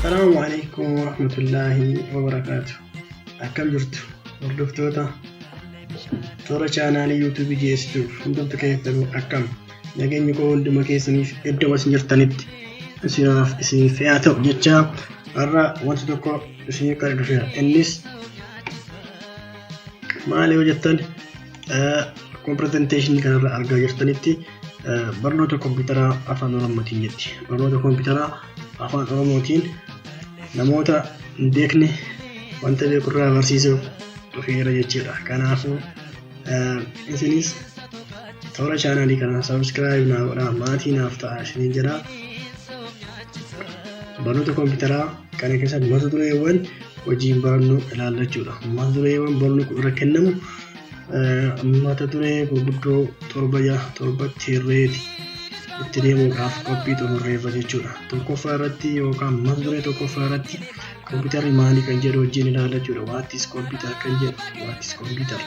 Salaamu alaikum warahmatullaahi wabarakaatu. Akkam jirtu hordoftoota toora chaanaalii yuutuubii GSTV hundumtu keessanuu akkam nageenyi koo hunduma keessaniif iddoo isin jirtanitti isinaaf isin fe'aa ta'u jecha har'a wanti tokko isin qara dhufeera innis maali yoo jettan Akkuma pirezenteeshinii kanarra argaa jirtanitti barnoota kompiitaraa afaan oromootiin jetti. Barnoota kompiitaraa afaan oromootiin namoota hin beekne wanta beekurraa barsiisuuf dhufeera jechuudha. Kanaafuu isinis toora chaanaalii kana sabiskiraayib naa godhaa maatii naaf ta'a isiniin jedha. Barnoota kompiitaraa kana keessatti mata dureewwan hojiin barannoo ilaallachuudha. Mata dureewwan barnoota irra kennamu mata duree gurguddoo torba torbatti hirreeti itti deemuudhaaf qophii xumurreerra jechuudha. Tokkoffaa irratti yookaan mata duree tokkoffaa irratti kompiitarri maalii kan jedhu wajjin ilaala jechuudha. Waattis kompiitar kan jedhu waattis kompiitar.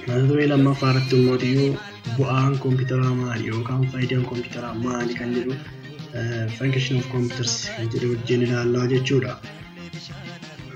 Mata duree lammaffaa irratti immoo iyyuu bu'aan kompiitaraa maali yookaan faayidaan kompiitaraa maali kan jedhu function of computers kan jedhu wajjin ilaallaa jechuudha.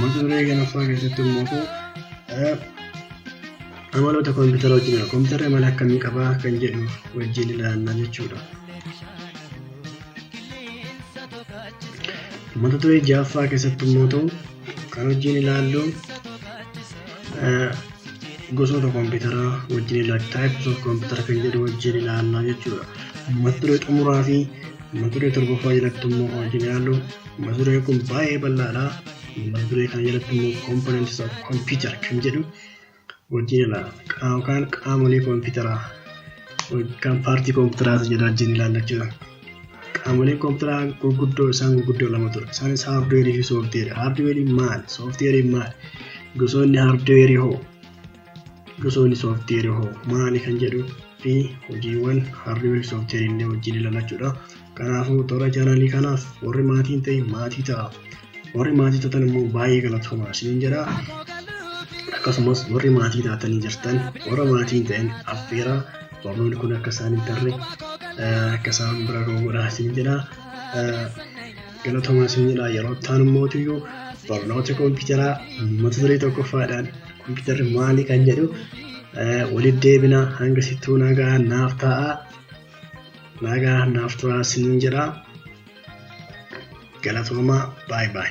Mata duree ganaffaa keessatti immoo ta'u amaloota koompitara wajjin koompitara amala akkamii qabaa kan jedhu wajjin ilaalla jechuudha. Mata duree ja'affaa keessatti immoo ta'u kan wajjin ilaallu gosoota koompitaraa wajjin ilaalla types of koompitara kan jedhu wajjin ilaalla jechuudha. Mata duree xumuraa fi mata duree torbaffaa jalatti immoo wajjin ilaallu Mata dureen kun baay'ee bal'aadha. Mata duree kana jalatti immoo components of computer kan jedhu wajjin ilaala. Qaama yookaan qaamolee kompiitaraa yookaan paartii kompiitaraas jedha wajjin ilaalla jechuudha. Qaamoleen kompiitaraa gurguddoo isaan gurguddoo lama ture. Isaanis haardweerii fi sooftiweerii. Haardweeriin maal? Sooftiweeriin maal? Gosoonni haardweerii hoo? osoo inni sooftiyeeri hoo maali kan jedhu fi hojiiwwan haardweer sooftiyeeri illee wajjin ilalachuudha. Kanaafuu toora chaanaalii kanaaf warri maatiin ta'e maatii ta'a. Warri maatii ta'an immoo baay'ee galatoomaa isiniin jedha. Akkasumas warri maatii taatanii jirtan warra maatiin ta'an affeeraa barnoonni kun akka isaan hin tarre akka isaan bira ga'u godhaa isiniin jedha. Galatoomaa isiniin jedha yeroo ta'an immoo barnoota kompiitaraa mata duree tokkoffaadhaan Kompiitarri maali kan jedhu walitti deebina hanga sittuu nagaa naaf ta'a. Nagaa naaf turaa sinin jedha. Galatoomaa baay baay.